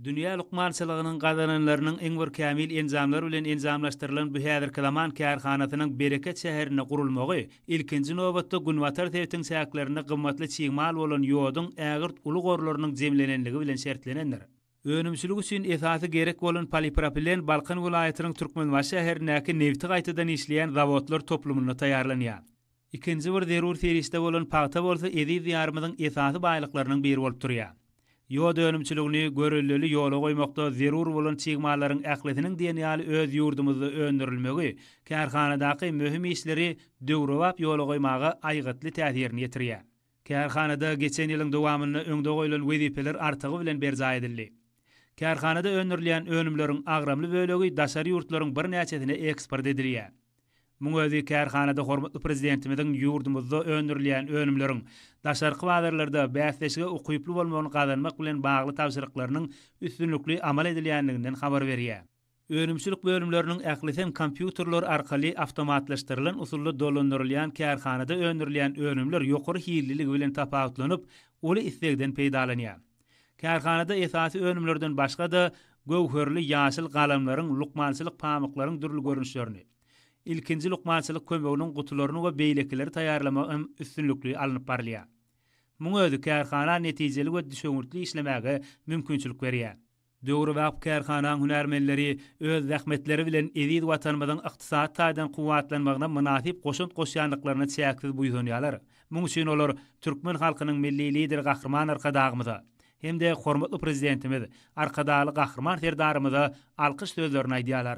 Dünýä lukmançylygynyň gazananlarynyň iň bir kämil enjamlar bilen enjamlaşdyrylan bu häzirki zaman kärhanasynyň Bereket şäherinde gurulmagy, ilkinji nobatda, Günbatar sebitiň çäklerinde gymmatly çig mal bolan ýoduň ägirt uly gorlarynyň jemlenenligi bilen şertlenendir. Önümçilik üçin esasy gerek bolan polipropilen Balkan welaýatynyň Türkmenbaşy şäherindäki nebti gaýtadan işleýän zawodlar toplumynda taýýarlanýar. Ikinji bir zerur serişde bolan pagta bolsa eziz Diýarymyzyň esasy baýlyklarynyň biri bolup durýar. Ýod önümçiligini görelleli ýola goýmakda zerur bolan çig mallaryň ählisiniň diýen ýaly öz ýurdumyzda öndürilmegi kärhanadaky möhüm işleri döwrebap ýola goýmaga aýgytly täsirini ýetirýär. Kärhanada geçen ýylyň dowamynda öňde goýlan wezipeler artygy bilen berjaý edildi. Kärhanada öndürilýän önümleriň agramly bölegi daşary ýurtlaryň birnäçesine eksport edilýär. Muň özi kärhanada hormatly Prezidentimiziň ýurdumyzda öndürilýän önümleriň daşarky bazarlarda bäsleşige ukyply bolmagyny gazanmak bilen bagly tabşyryklarynyň üstünlikli amal edilýändiginden habar berýär. Önümçilik bölümleriniň ählisem kompýuterler arkaly awtomatlaşdyrylan usulda dolandyrylýan kärhanada öndürilýän önümler ýokary hilliligi bilen tapawutlanyp, uly islegden peýdalanýar. Kärhanada esasy önümlerden başga-da, göwherli ýaşyl galamlaryň, lukmançylyk pamyklaryň dürli görnüşlerini, ilkinji lukmançylyk kömeginiň gutularyny we beýlekileri taýýarlamak hem üstünlikli alnyp barylýar. Muň özi kärhana netijeli we düşewüntli işlemäge mümkinçilik berýär. Döwrebap kärhanaň hünärmenleri öz zähmetleri bilen eziz Watanymyzyň ykdysady taýdan kuwwatlanmagyna mynasyp goşant goşýandyklaryna çäksiz buýsanýarlar. Muň üçin olar türkmen halkynyň Milli Lideri Gahryman Arkadagymyza hem-de hormatly Prezidentimiz Arkadagly Gahryman Serdarymyza alkyş sözlerini aýdýarlar.